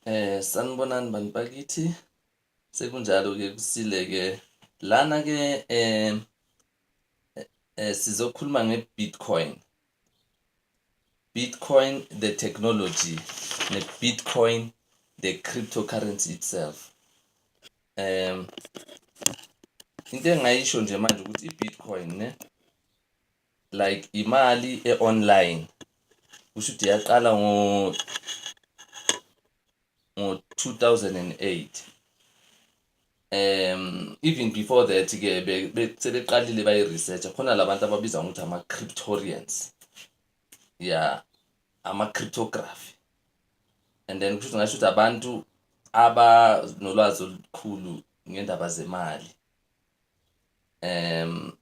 Eh sanibonani bantu bakithi sekunjalo ke kusile ke lana ke eh, eh sizokhuluma ngeBitcoin Bitcoin the technology neBitcoin the cryptocurrency itself um into engayisho nje manje ukuthi iBitcoin ne like imali e-online kusho ukuthi yaqala ngo ngo-2008 um even before that ke sebeqalile bayi-research khona labantu ababiza ngokuthi ama-cryptorians ya ama-cryptography and then kusho ukuthi ngasho ukuthi abantu abanolwazi olukhulu ngendaba zemali um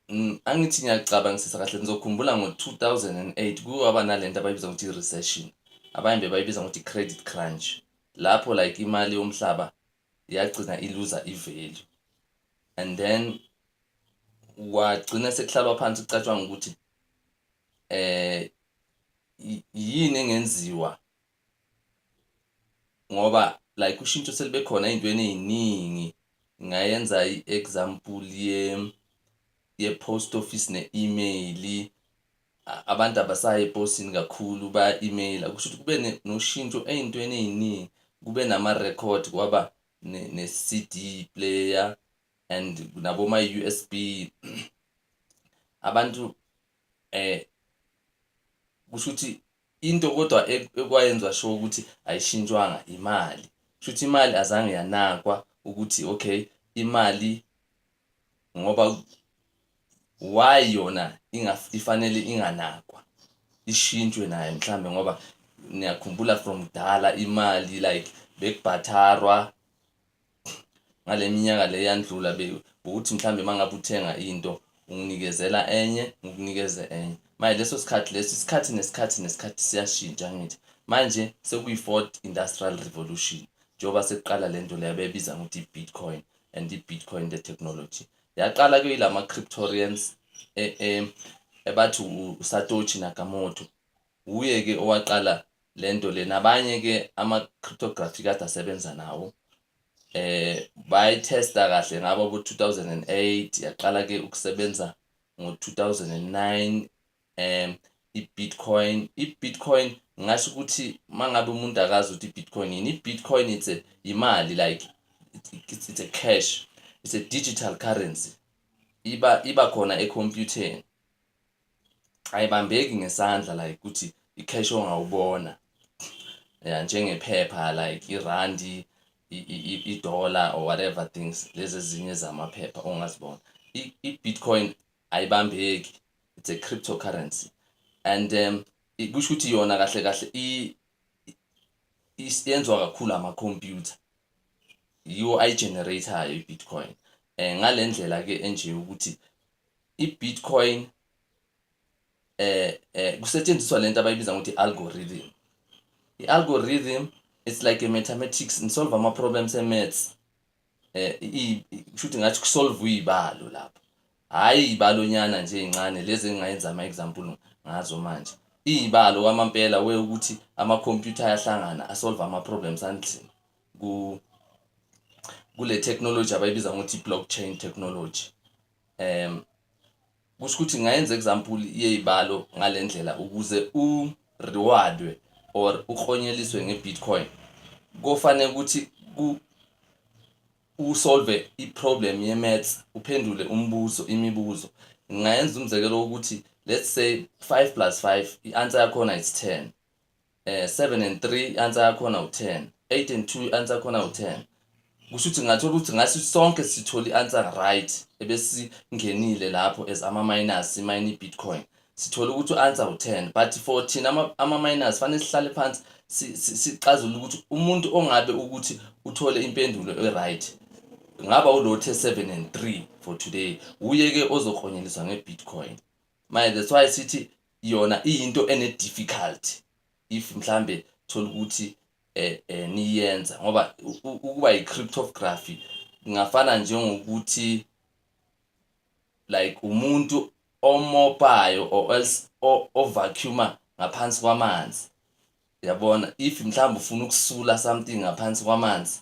Mm, angithi ngiyacabangisisa kahle ngizokhumbula ngo-2008 kuke waba nalento abayibiza ukuthi i-recession abanye bebayibiza ngokuthi i-credit crunch lapho like imali yomhlaba yagcina iluza i-value and then wagcina sekuhlalwa phansi kucatshwanga ukuthi eh yini engenziwa ngoba like ushintsho selibe khona ey'ntweni ey'ningi ngayenza i-example ye-post office ne-email abantu abasayi eposini kakhulu baya-emaila kusho ukuthi kube noshintsho ey'ntweni ey'ningi kube nama-record kwaba ne-CD player and naboma-USB abantu eh kusho ukuthi Into kodwa ekwayenza sure ukuthi ayishintshwanga imali. Shuthi imali azange yanakwa ukuthi okay imali ngoba why yona ifanele inganakwa. Ishintshwe nayo mhlambe ngoba niyakhumbula from kudala imali like bekubhatharwa ngale minyaka le eyandlula be ukuthi mhlawumbe uma ngabe uthenga into unginikezela enye ngikunikeze enye manje leso sikhathi leso isikhathi nesikhathi nesikhathi siyashintsha ngithi manje sekuyi-fourth industrial revolution njengoba sekuqala le nto leyo bebiza ngokuthi i-bitcoin and i-bitcoin the technology yaqala kuyila ma-cryptorians e, e, ebathi usatochi nakamoto wuye-ke owaqala lento le nabanye ke ama cryptography kade asebenza nawo eh bayitesta kahle ngabo bo 2008 yaqala ke ukusebenza ngo 2009 em i-Bitcoin i-Bitcoin ngasho ukuthi mangabe umuntu akazi ukuthi i-Bitcoin yini i-Bitcoin it's a imali like it's, it's a cash it's a digital currency iba iba khona e-computer ayibambeki ngesandla like ukuthi i-cash ongawubona ya njengephepha like irandi i-dollar or whatever things lezi ezinye zamaphepha ongazibona i-bitcoin ayibambeki it's a cryptocurrency and um kusho ukuthi yona kahle kahle yenziwa kakhulu amakhompyutha yiwo ayi-generator-yo i-bitcoin um ngale ndlela-ke enje ukuthi i-Bitcoin eh eh kusetshenziswa lento abayibiza ngokuthi algorithm i-algorithm it's like a mathematics nisolve ama problems e maths eh kushuthi ngathi kusolve uyibalo lapho hayi ibalonyana nje incane lezi engingayenza ama example ngazo manje iyibalo kwamampela we ukuthi ama computer ayahlangana asolve ama problems anzima ku kule technology abayibiza ngokuthi blockchain technology um kusho ukuthi ngayenza example yeyibalo ngalendlela ukuze u rewardwe or uklonyeliswe ngebitcoin kofanele ukuthi ku usolve iproblem yemaths uphendule umbuzo imibuzo ngayenza umzekelo wokuthi let's say 5 plus 5 i-answer yakhona it's 10 eh 7 and 3 i-answer yakhona u-10 8 and 2 i-answer yakhona u-10 kusho ukuthi ngathola ukuthi ngathi sonke sithola i-answer right ebesingenile lapho as ama-minus imayini i-bitcoin sithola ukuthi u-answer u-10 but for thina ama-minus fanele sihlale phansi sixazule ukuthi umuntu ongabe ukuthi uthole impendulo e-right ngaba ulothe 7 and 3 for today wuye-ke ozoklonyeliswa nge-bitcoin manje that's why sithi yona iyinto ene difficulty if mhlambe thola ukuthi eh, eh niyenza ngoba ukuba yi cryptography ngafana njengokuthi like umuntu omopayo or else ovacuuma ngaphansi kwamanzi yabona if mhlawumbe ufuna ukusula something ngaphansi kwamanzi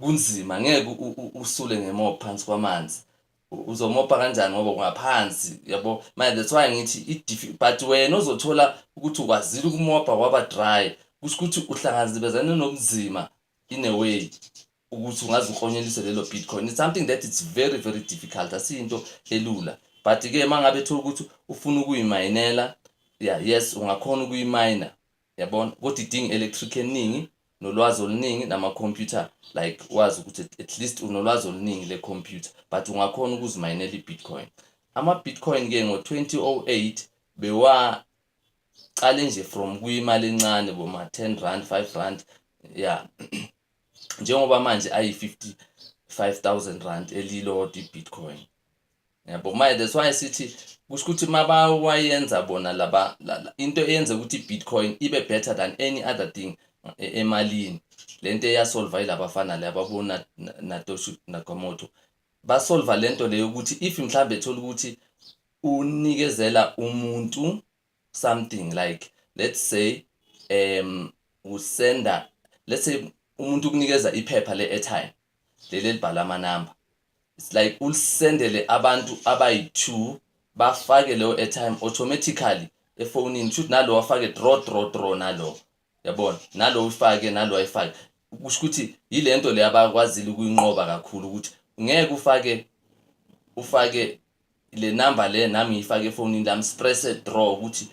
kunzima ngeke usule ngemopha phansi kwamanzi uzomopha kanjani ngoba ungaphansi yabo manje that's why ngithi idifi but wena uzothola ukuthi ukwazile ukumopha waba dry kusho ukuthi uhlangazibezane nobunzima in a way ukuthi ungaze uklonyelise lelo bitcoin it's something that it's very very difficult asiyinto elula but ke mangabe thola ukuthi ufuna ukuyimayinela yeah yes ungakhona ukuyimina Yabona kodwa idinga electric eningi nolwazi oluningi nama computer like wazi ukuthi at least unolwazi oluningi le computer but ungakhona ukuzimayinela iBitcoin. Ama Bitcoin ke ngo 2008 bewa qale nje from kuyimali encane boma 10 rand 5 rand yeah njengoba manje ayi 55000 rand elilodwa iBitcoin. yabo manje that's why sithi kusho ukuthi mabawayenza bona laba la, la, into eyenza ukuthi bitcoin ibe better than any other thing e, emalini lento eyasolva ilabafana le ababona natoshu nakamoto basolva lento leyo ukuthi if mhlambe ethola ukuthi unikezela umuntu something like let's say um usenda let's say umuntu ukunikeza iphepha le-airtime leli elibhala amanamba it's like ulisendele abantu abayi-two bafake leyo airtime automatically efonini shuthi nalo wafake draw draw draw nalo yabona nalo uyifake nalo ayifake kusho ukuthi yile nto le abakwazile ukuyinqoba kakhulu ukuthi ngeke ufake ufake le number le nami ngiyifake efonini lami sipresse draw ukuthi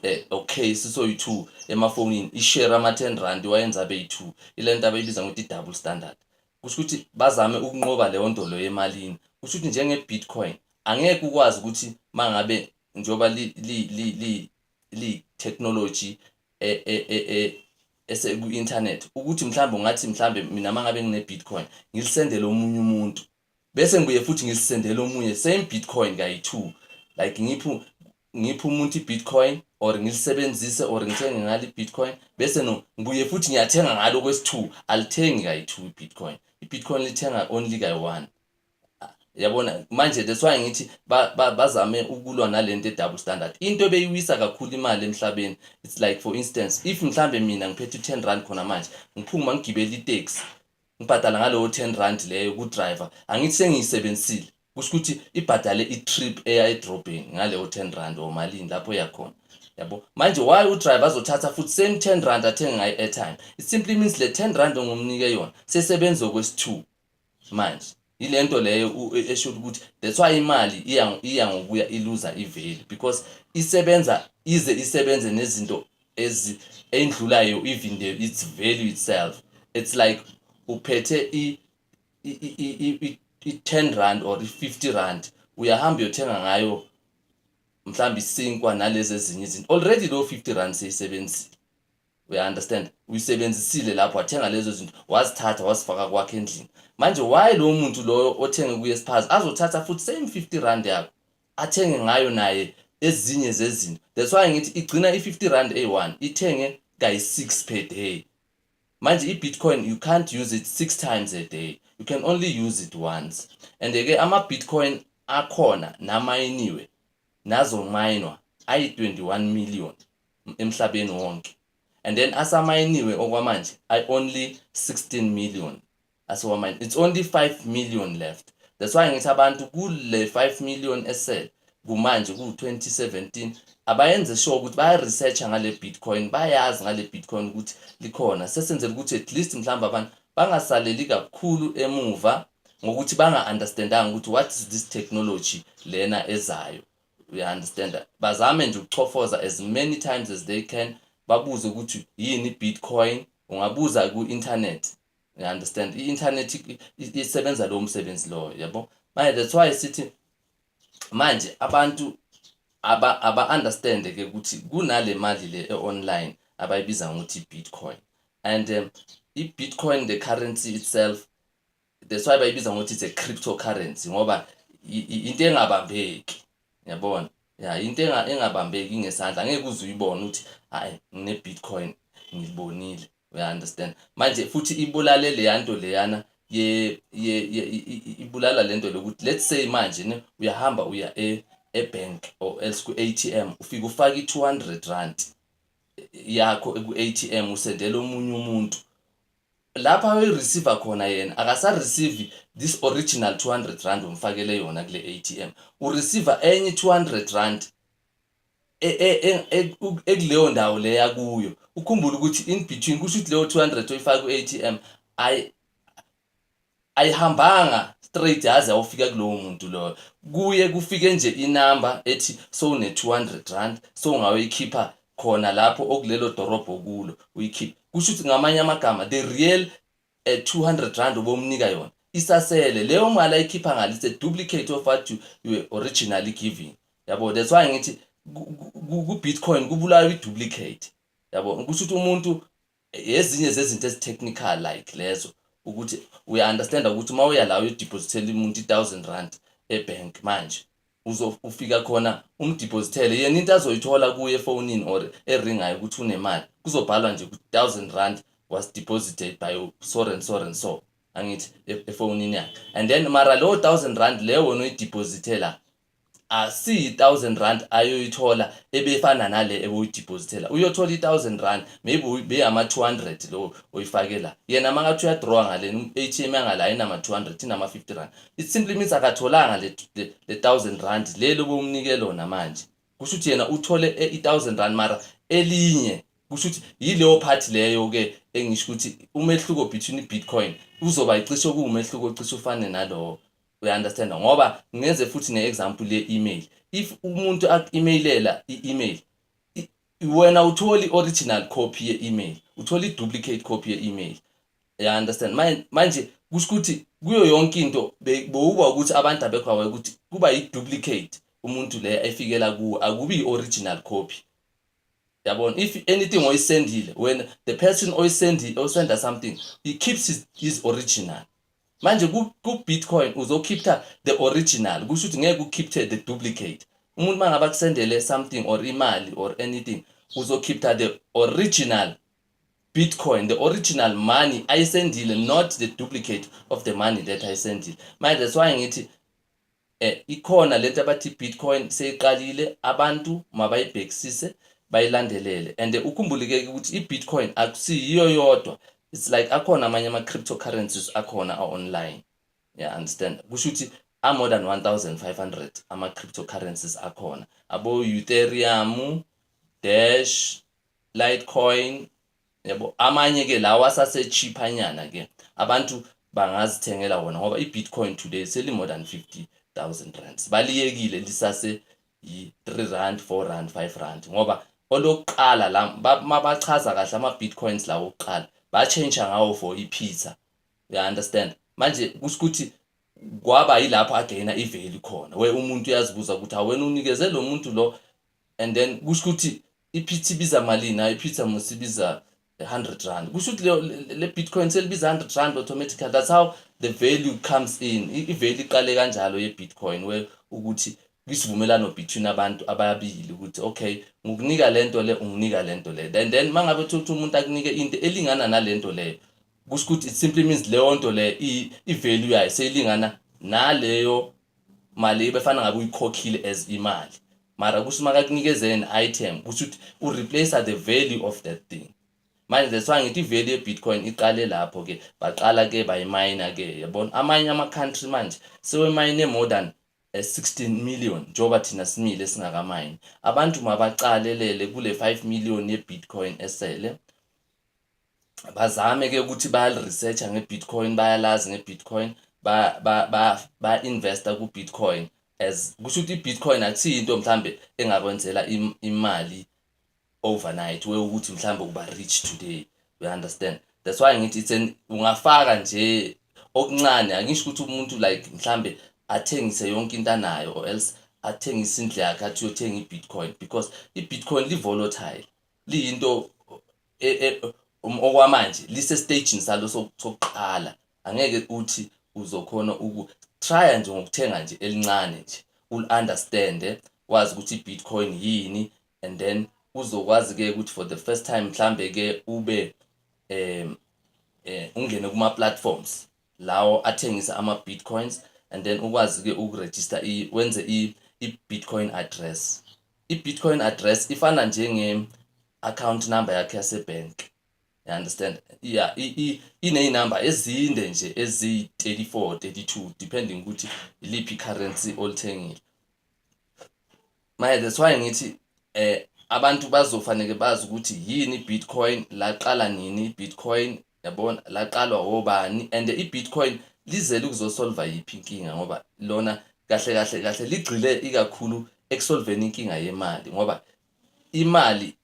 eh, okay sisoyi-two emafonini ishare ama-ten rand wayenza abeyi-two ile nto abayibiza ngokuthi i-double standard Kusho ukuthi bazame ukunqoba leyo nto leyo emalini. Kusho ukuthi njenge-Bitcoin angeke ukwazi ukuthi uma ngabe njengoba li-technology e, e, e, eseku-internet ukuthi mhlawumbe ungathi mhlawumbe mina uma ngabe ngine-bitcoin ngilisendele omunye umuntu bese ngibuye futhi ngilisendele omunye same bitcoin kayi-two like ngiphu ngiphe umuntu i-bitcoin or ngilisebenzise or ngithenge ngalo i-bitcoin bese no ngibuye futhi ngiyathenga ngalo kwesi-two alithengi kayi-two i-bitcoin i-bitcoin lithenga only kayi-one yabona manje that's why ngithi bazame ba, ba ukulwa nalento edouble standard into ebeyiwisa kakhulu imali emhlabeni it's like for instance if mhlambe mina ngiphethe u10 rand khona manje ngiphuma ngigibele itaxi Ngibhadala ngalowo 10 rand leyo ku driver angithi sengiyisebenzisile kusho ukuthi ibhadale i trip eya edrobheni ngaleyo 10 rand or malini lapho eya khona. Yabo? Manje why u driver azothatha futhi same 10 rand athenge ngayo airtime? It simply means le 10 rand ongumnike yona sesebenza okwesi 2 manje. Yile nto leyo u- e- esho ukuthi that's why imali iya iya ngokuya iluza iveli because isebenza ize isebenze nezinto ezi endlulayo even the, its value itself. It's like uphethe i i i i- i- i- i 10 rand or i 50 rand uyahamba uyothenga ngayo mhlawumbe isinkwa nalezi ezinye izinto already leyo 50 rand seyisebenzile uya understand uyisebenzisile lapho wathenga lezo zinto wazithatha wazifaka kwakhe endlini manje why lowo muntu loyo othenge kuye spaz azothatha futhi same 50 rand yakho athenge ngayo naye ezinye zezinto that's why ngithi igcina i-50 rand eyi-1 ithenge kayi-6 per day manje i-bitcoin you can't use it six times a day you can only use it once and-ke ama-bitcoin akhona namayiniwe nazomayinwa ayi-21 million emhlabeni wonke and then asamayiniwe okwamanje i only 16 million asiwamayini it's only 5 million left that's why ngithi abantu kule 5 million esel kumanje ku-2017 abayenze sure ukuthi baya-researcha ngale bitcoin bayazi ngale bitcoin ukuthi likhona sesenzela ukuthi at least mhlawumbe abantu bangasaleli kakhulu emuva ngokuthi banga-understandanga ukuthi what is this technology lena ezayo uyaunderstanda bazame nje ukuchofoza as many times as they can babuze ukuthi yini bitcoin ungabuza ku-internet uyaunderstand i-internet isebenza lowo msebenzi loyo yabo manje that's why sithi manje abantu aba aba understand ke ukuthi kunale mali le e-online abayibiza ngokuthi bitcoin and um, i-bitcoin the currency itself that's why bayibiza ngokuthi it's a cryptocurrency ngoba into engabambeki yabona ya into engabambeki ngesandla ngeke uze uyibone ukuthi hayi ngine bitcoin ngibonile uya understand manje futhi ibulale leya nto leyana ye ye ibulala lento lokuthi let's say manje ne uyahamba uya e ebank or else ku ATM ufika ufaka i200 rand yakho ku ATM usendela omunye umuntu lapho ayoyireceiver khona yena akasareceive this original 200 rand omfakele yona kule ATM ureceiver enye 200 rand e, e, e, ekuleyo ndawo leya kuyo ukhumbula ukuthi in between kusho ukuthi leyo 200 oyifaka ku-ATM Ayihambanga straight yaze yawufika kulowo muntu loyo. Kuye kufike nje inamba ethi sowune-200 sowungayoyikhipha khona lapho okulelo dorobho okulo, uyikhiphe. Kusho ukuthi ngamanye amagama the real eh, 200 rand obomnika yona isasele. Leyo mali ayikhipha ngale it's a duplicate of what you, you were originally giving. Yabo, that's why ngithi ku-Bitcoin kubulawa i-duplicate. Yabo, kusho ukuthi umuntu Ezinye zezinto ezi technical like lezo ukuthi uya understand ukuthi uma uya la uyo depositela umuntu i 1000 rand e bank manje uzo ufika khona umdepositele yena into azoyithola kuye efonini or eringayo ukuthi unemali kuzobhalwa nje ukuthi 1000 rand was deposited by so and so and so angithi e-, efonini yakhe and then mara leyo 1000 rand leyo wena uyidepositela asiyi thousand rand ayoyithola ebefana nale ebewuyidepositela uyothola i-thousand rand maybe beyama 200 lo oyifake la yena makathi uyadrawa ngale i-atm yangala ayinama 200 inama 50 rand it simply means akatholanga le, le, le thousand rand lelo bewumnike lona manje kusho ukuthi yena uthole e, i-thousand rand mara elinye kusho ukuthi yileyo phathi leyo-ke engisho ukuthi umehluko between i-bitcoin uzoba yicishe kuwumehluko ocishe ufane nalowo uyaunderstanda ngoba ngenze futhi ne-example ye-email if umuntu aku-emailela i-email wena uthole i-original copy ye-email uthole i-duplicate copy ye-email ya understand manje kusho ukuthi kuyo yonke into bowuba ukuthi abantu abekho awaye ukuthi kuba yi-duplicate umuntu leya efikela kuwe akubi yi-original copy yabona if anything oyisendile wena the person oyisendile osenda something he keeps his, his original manje ku-bitcoin ku uzokhipha the original kusho ukuthi ngeke ukhiphe the duplicate umuntu uma ngabe akusendele something or imali or anything uzokhipha the original bitcoin the original money ayisendile not the duplicate of the money that ayisendile manje that's why ngithi E, ikhona lento abathi Bitcoin seyiqalile abantu mabayibhekisise bayilandelele and ukhumbulekeke ukuthi iBitcoin akusiyiyo yodwa it's like akhona amanye ama cryptocurrencies akhona a online yeah understand kusho ukuthi a more than 1500 ama cryptocurrencies akhona abo Ethereum Dash Litecoin yabo amanye ke lawa asase cheaper nyana ke abantu bangazithengela wona ngoba i-bitcoin today seli-more than 50 thousand rands baliyekile lisase yi-3 rand 4 rand 5 rand ngoba olokuqala la mabachaza kahle ama-bitcoins lawo okuqala batshentsha ngawo for i-pizza uya-understand manje kusikuthi kwaba yilapho agayina iveli khona we umuntu uyazibuza ukuthi awena unikeze lo muntu lo and then kusho ukuthi iphitha ibiza malini hayi iphitha mos ibiza 100 rand kusho ukuthi le bitcoin selibiza 100 rand automatically that's how the value comes in i-value iqale kanjalo ye-bitcoin we ukuthi kwisivumelano between abantu ababili ukuthi okay ngokunika lento le unginika lento le and then mangabe uthatha umuntu akunike into elingana nalento leyo kusho ukuthi it simply means leyo nto le i-value yayo seyilingana naleyo mali ebefana ngabe uyikhokhile as imali mara kusho uma kakunikeze an item kusho ukuthi ureplace the value of that thing manje that's why ngithi iveli ye-bitcoin iqale lapho ke baqala ke bayimayina ke yabona amanye ama-country manje sewemayine more than uh, eh, 16 million njengoba thina simile singakamine abantu mabaqalelele kule 5 million ye-bitcoin esele bazame ke ukuthi bayaliresearcha nge-bitcoin bayalazi nge-bitcoin ba-investa ba, ba, ba ku-bitcoin as kusho ukuthi i-bitcoin akusiyo into mhlawumbe engakwenzela imali overnight we ukuthi mhlawumbe uba rich today you understand that's why ngithi it's an ungafaka nje okuncane angisho ukuthi umuntu like mhlambe athengise yonke into anayo or else athengise indlu yakhe athi uyothenga i-bitcoin because i-bitcoin li-volatile liyinto e, e, um, okwamanje lise stagini salo sokuqala angeke uthi uzokhona uku trya nje ngokuthenga nje elincane nje ul understand wazi ukuthi bitcoin yini and then uzokwazi ke ukuthi for the first time mhlambe ke ube um eh ungene kuma platforms lawo athengisa ama Bitcoins and then ukwazi ke uku register i wenze i i Bitcoin address i Bitcoin address ifana njenge account number yakhe yase bank you understand yeah ine number ezinde nje ezi 34 32 depending ukuthi iliphi currency olithengile Manje that's why ngithi eh abantu bazofanele bazi ukuthi yini iBitcoin, laqala nini iBitcoin, yabona laqalwa obani and iBitcoin lizele ukuzosolva yiphi inkinga ngoba lona kahle kahle kahle ligxile ikakhulu ekusolveni inkinga yemali ngoba imali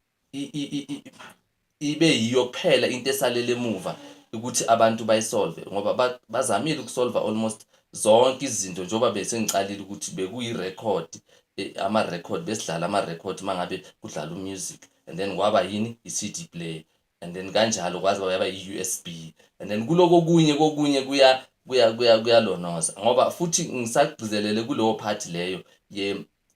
ibe yiyo kuphela into esalele emuva ukuthi abantu bayisolve ngoba bazamile ukusolva almost zonke izinto njengoba besengiqalile ukuthi bekuyi-record eh, ama-record besidlala ama-record uma ngabe kudlala umusic and then kwaba yini i-cd play and then kanjalo kwaze kwayaba i-u s b and then kuloko kunye kokunye kuya kuyalonoza ngoba futhi ngisagcizelele kuleyo phathi leyo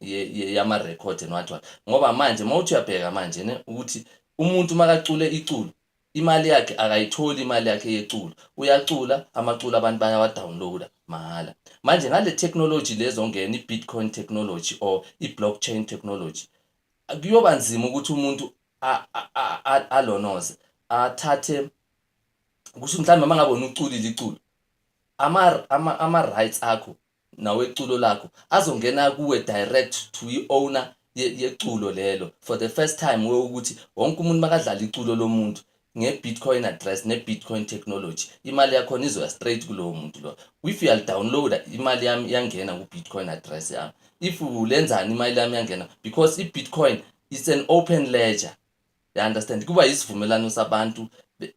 yama-record and what what ngoba manje uma uthi uyabheka manje ne ukuthi umuntu makacule iculo imali yakhe akayitholi imali yakhe yeculo uyacula amaculo abantu bayawadownloada mahhala manje ngale technology lezongena i-bitcoin technology or i-blockchain technology kuyoba nzima ukuthi umuntu alonoze athathe kusho mhlawumbe uma ngabe unuculile iculo ama-rights akho nawe culo lakho azongena kuwe direct to i owner ye yeculo lelo for the first time we ukuthi wonke umuntu makadlala iculo lomuntu nge bitcoin address ne bitcoin technology imali yakhona izoya straight kulowo muntu lo if uyali downloader imali yami iyangena ku bitcoin address yami if ulenzani imali yami iyangena because i bitcoin it's an open ledger you understand kuba isivumelano sabantu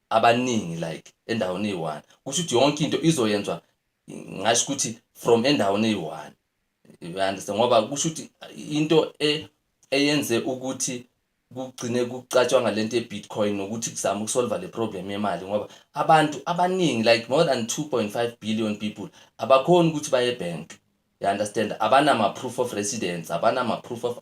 abaningi like endaweni eyi-one kusho ukuthi yonke into izoyenzwa ngasho ukuthi from endaweni eyi-one uyandisa ngoba kusho ukuthi into e, eyenze ukuthi kugcine kucatshwanga lento ye-bitcoin nokuthi kuzama ukusolva le problem yemali ngoba abantu abaningi like more than 2.5 billion people abakhoni ukuthi baye ebhenki You understand? Abanama proof of residence, abanama proof of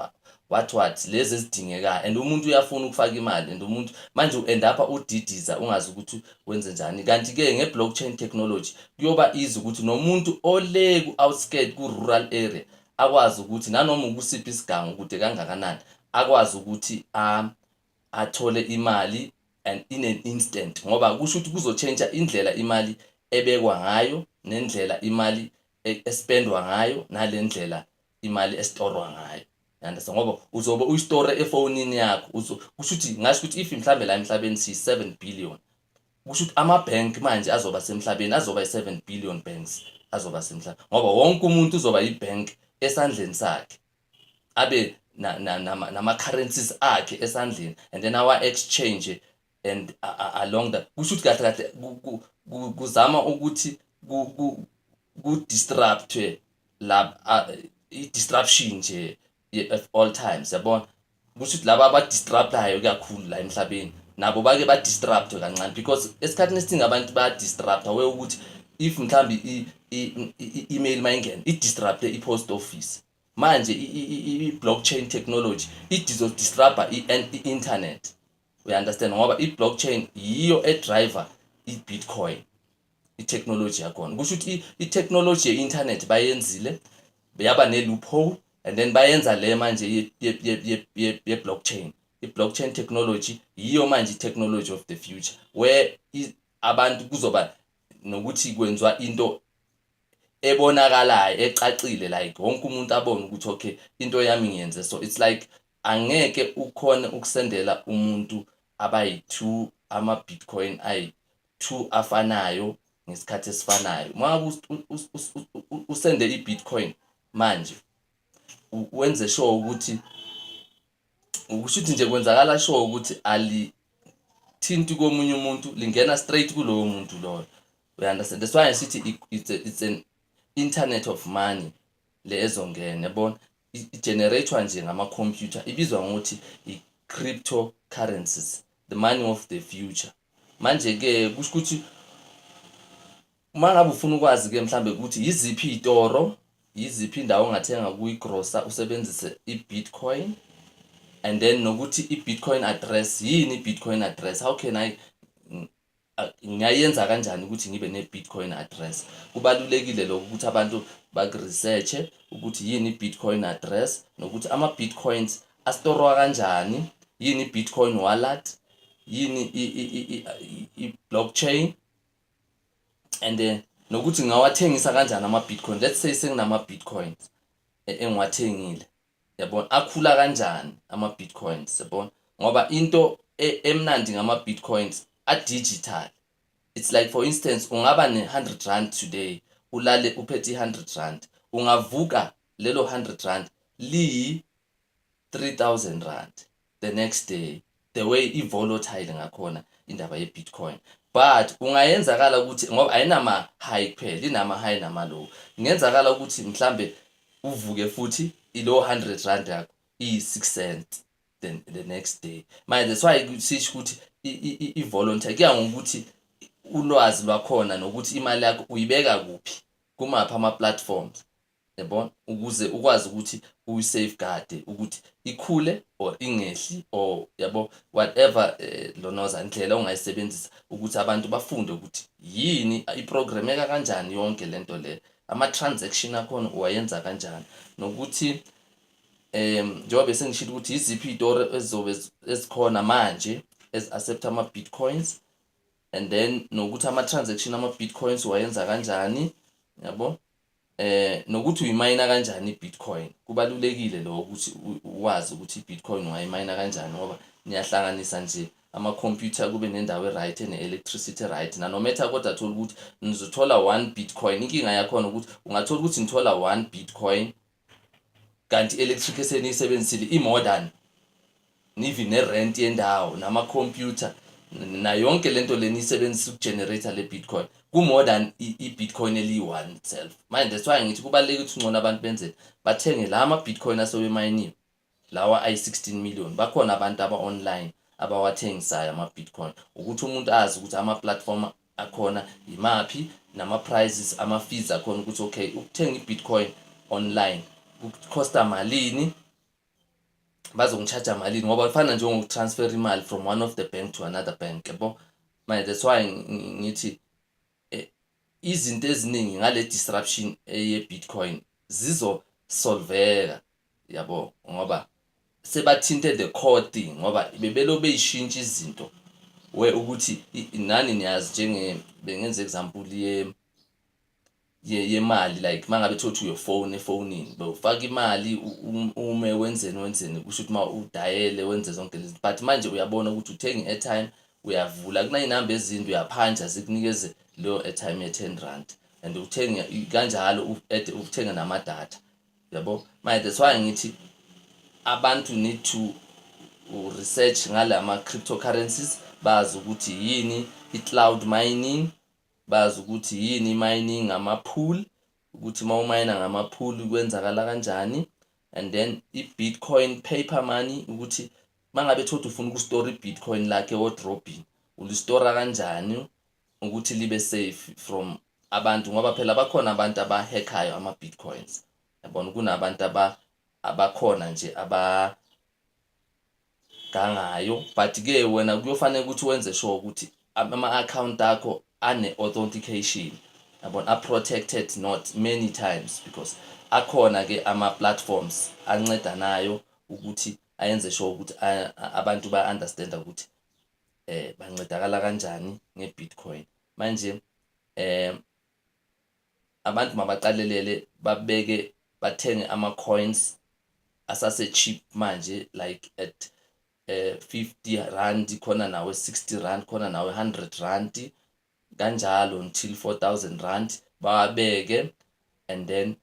what what lezi ezidingekayo and umuntu uyafuna ukufaka imali and umuntu manje u-end up udidiza ungazi ukuthi wenze njani kanti-ke nge-blockchain technology kuyoba easy ukuthi nomuntu ole ku-outskirt ku-rural area akwazi ukuthi nanoma ukusiphi isigango kude kangakanani akwazi ukuthi um, athole imali and in an instant ngoba kusho ukuthi kuzotshentsha indlela imali ebekwa ngayo nendlela imali espendwa ngayo nalendlela imali estorwa ngayo yandisa ngoba uzobe uyistore efonini yakho kusho ukuthi ngasho ukuthi if mhlambe la emhlabeni siyi 7 billion kusho ukuthi ama bank manje azoba semhlabeni azoba yi 7 billion banks azoba semhlabeni ngoba wonke umuntu uzoba yi bank esandleni sakhe abe nama currencies akhe esandleni and then our exchange and along that kusho ukuthi kahle kahle kuzama ukuthi ku-disruptwe lab i-disruption nje at all times yabona kusho ukuthi laba abadistraptayo kakhulu la emhlabeni nabo bake badistraptwe kancane because esikhathini esiningi abantu bayadistrapta we ukuthi if mhlawumbe i-email uma ingena idistrapte i-post office manje i-blockchain technology idizodistrapta i-internet we understand ngoba i blockchain yiyo e driver i bitcoin i technology yakhona kusho ukuthi i technology ye internet bayenzile yaba ne loophole and then bayenza le manje ye ye ye ye ye blockchain i blockchain technology yiyo manje i technology of the future where abantu kuzoba nokuthi kwenziwa into ebonakalayo ecacile like wonke umuntu abone ukuthi okay into yami ngiyenze so it's like Angeke ukhone ukusendela umuntu abayi two ama bitcoin ayi two afanayo ngesikhathi esifanayo. Uma ngabe usende i bitcoin manje wenze sure ukuthi ukusho ukuthi nje kwenzakala sure ukuthi ali thinti komunye umuntu lingena straight kulowo muntu loyo. We understand. That's why I sithi it's, a, it's an internet of money. le ezongena yabona i-generator nje ngama-computer ibizwa ngokuthi i-cryptocurrencies the money of the future manje-ke kusho ukuthi uma ngabe ufuna ukwazi-ke mhlawumbe ukuthi yiziphi iy'toro yiziphi indawo ongathenga kuyigrosa usebenzise i-bitcoin and then nokuthi i-bitcoin address yini i-bitcoin address how can i Ngingayenza kanjani ukuthi ngibe ne-Bitcoin address? Kubalulekile lokho ukuthi abantu baku-research-e ukuthi yini i-Bitcoin address nokuthi ama-Bitcoins astorwa kanjani, yini i-Bitcoin wallet, yini i-blockchain and eh, nokuthi ngingawathengisa kanjani ama-Bitcoin. Let's say senginama-Bitcoins e, engiwathengile. Yabona akhula kanjani ama Bitcoins yabona ngoba into e- emnandi ngama Bitcoins a digital. It's like for instance ungaba ne 100 rand today ulale uphethe i 100 rand ungavuka lelo 100 rand liyi 3000 rand. the next day the way i-volatile ngakhona indaba ye-bitcoin but kungayenzakala ukuthi ngoba ayinama-high kuphela inama-high nama-low kungenzakala ukuthi mhlambe uvuke futhi ilow 100 rand yakho iyi-6 cents the, the next day manje that's why sisho ukuthi i-volunteer kuya ngokuthi ulwazi lwakhona nokuthi imali yakho uyibeka kuphi kumaphi ama-platforms Yabona? Ukuze ukwazi ukuthi uyi-safeguard ukuthi ikhule or ingehli or yabo whatever eh, lonoza indlela ongayisebenzisa ukuthi abantu bafunde ukuthi yini iprogrameka kanjani yonke lento le ama-transaction akhona uwayenza kanjani nokuthi um njengoba besengishilo ukuthi yiziphi iy'toro ezizobe ezikhona manje ezi-accept ama-bitcoins and then nokuthi ama-transaction ama-bitcoins uwayenza kanjani yabo Eh nokuthi uyimayina kanjani iBitcoin. Kubalulekile lokho ukuthi wazi ukuthi iBitcoin ungayimayina kanjani ngoba niyahlanganisa nje ama-computer kube nendawo e-right ene-electricity e-right nanometha kodwa thola ukuthi nizothola one bitcoin inkinga yakhona ukuthi ungathola ukuthi nithola one bitcoin kanti electric eseniyisebenzisile imodern nivi nerent yendawo nama computer na yonke lento lenisebenzisa ukugenerator le bitcoin ku more than i bitcoin eliyi one itself manje that's why ngithi kubaluleke ukuthi ungcono abantu benze bathenge la ama bitcoin asobe mayiniwe Lawa ayi 16 million bakhona abantu aba online abawathengisayo ama Bitcoin ukuthi umuntu azi ukuthi ama platform akhona yimaphi nama prices ama fees akhona ukuthi okay ukuthenga i Bitcoin online kucosta malini bazongicharge malini ngoba kufana nje ngokutransfer imali from one of the bank to another bank yabo manje that's why ngithi izinto eziningi ngale disruption eye Bitcoin zizo solveka yabo ngoba sebathinte the core thing ngoba bebelo beyishintsha izinto we ukuthi nani niyazi njenge bengenza example ye ye yemali like mangabe thothi uyo phone efonini bewufaka imali ume wenzeni wenzeni kusho ukuthi uma udayele wenze zonke lezi but manje uyabona ukuthi uthenga i-airtime uyavula kuney'namba ezinde uyaphanja zikunikeze leyo airtime ye-ten rand and uthenge kanjalo uthenge namadatha yabo manje that's why ngithi abantu need to research ngala ma-cryptocurrencies bazi ukuthi yini i-cloud mining bazi ukuthi yini i-mining ngama-pool ukuthi uma umayina ngama-pool kwenzakala kanjani and then i-bitcoin paper money ukuthi Mangabe thothi ufuna ukustora ibitcoin lakhe wardrobin ulistora kanjani ukuthi libe safe from abantu ngoba phela bakhona abantu abahackayo ama bitcoins yabona kunabantu aba abakhona nje aba gangayo but ke wena kuyofanele ukuthi wenze sure ukuthi ama account akho ane authentication yabona a protected not many times because akhona ke ama platforms ancedanayo ukuthi ayenze sure ukuthi abantu ba-understanda ukuthi eh bancedakala kanjani nge-bitcoin manje eh abantu mabaqalelele babeke bathenge ama-coins asase-cheap manje like at eh 50 rand khona nawe 60 rand khona nawe 100 rand kanjalo until 4000 rand bawabeke and then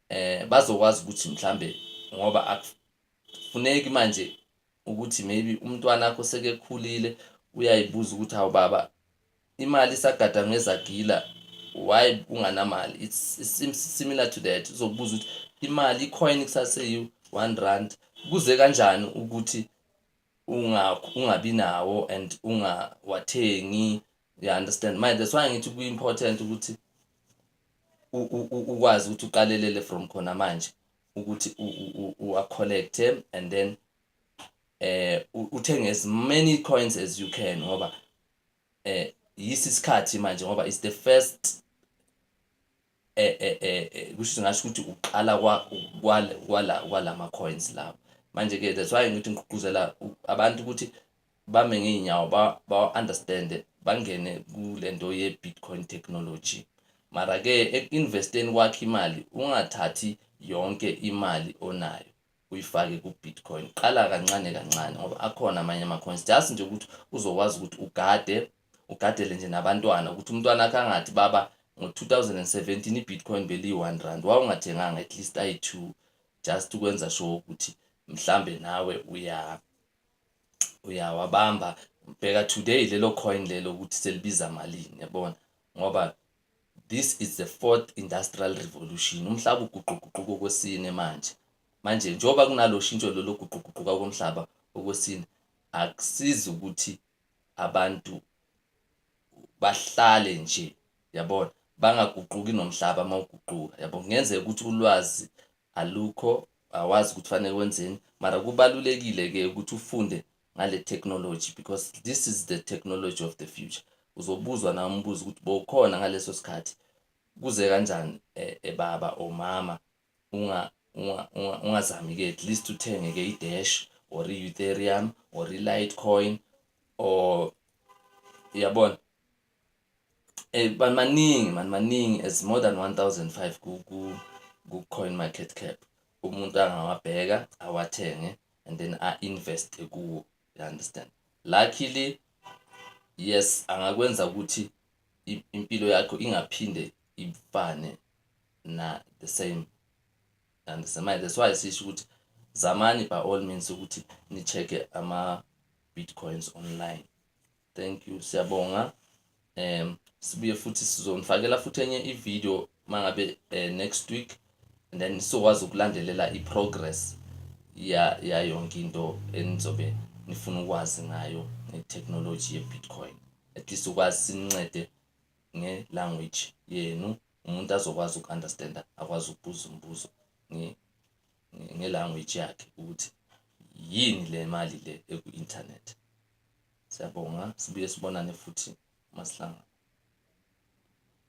eh bazokwazi ukuthi mhlambe ngoba akufuneki manje ukuthi maybe umntwana akho sekekhulile uyayibuza ukuthi hawu baba imali isagada ngezagila why kunganamali it's, it's similar to that uzokubuza ukuthi imali ikhona kusase yiwu 1 rand kuze kanjani ukuthi unga ungabi nawo and ungawathengi you understand my that's why ngithi ku important ukuthi ukwazi ukuthi uqalelele from khona manje ukuthi uwa collect and then eh uthenge as many coins as you can ngoba eh yisi isikhathi manje ngoba it's the first eh, eh, eh, eh kusho singasho ukuthi uqala kwalama coins lawo manje ke that's why ngithi ngigqugquzela abantu ukuthi bame ngeenyawo ba-understand bangene kule nto ye-bitcoin technology mara-ke eku-investeni kwakho imali ungathathi yonke imali onayo uyifake ku-Bitcoin. Qala kancane kancane ngoba akhona amanye ama-coins just nje ukuthi uzokwazi ukuthi ugade ugadele nje nabantwana ukuthi umntwana akhe angathi baba ngo-2017 i-Bitcoin beliyi-one rand wawungathenganga at least ayi-two just ukwenza sure ukuthi mhlambe nawe uya uyawabamba bheka today lelo coin lelo ukuthi selibiza malini yabona ngoba This is the fourth industrial revolution. Umhlaba uguquguquka okwesine manje. Manje njengoba kunalo shintsho lolo guquguquka komhlaba okwesine akusizi ukuthi abantu bahlale nje yabona bangaguquki nomhlaba uma uguquka yabo kungenzeka ukuthi ulwazi alukho awazi ukuthi fanele wenzeni mara kubalulekile-ke ukuthi ufunde ngale technology because this is the technology of the future uzobuzwa na umbuzo ukuthi bowukhona ngaleso sikhathi kuze kanjani eh, eh, baba or mama unga ungazami ke at least uthenge ke idash or i-ethereum or i-litecoin or yabona eh maningi man maningi as more than 1005 ku ku coin market cap umuntu angawabheka awathenge and then a-invest kuwo you understand luckily yes angakwenza ukuthi impilo yakho ingaphinde ifane na the same and manje that's why sisho ukuthi zamani by all means ukuthi ni-check-e ama-bitcoins online thank you siyabonga um sibuye futhi sizonifakela futhi enye ivideo mangabe eh, next week and then sizokwazi ukulandelela iprogress ya ya yonke into enizobe nifuna ukwazi ngayo ngetechnology yebitcoin at least ukwazi sincede ngelanguage yenu umuntu azokwazi uku-understanda akwazi ukubuza umbuzo ngelanguage yakhe ukuthi yini le mali le eku-internet Siyabonga, sibuye sibonane futhi masihlangana.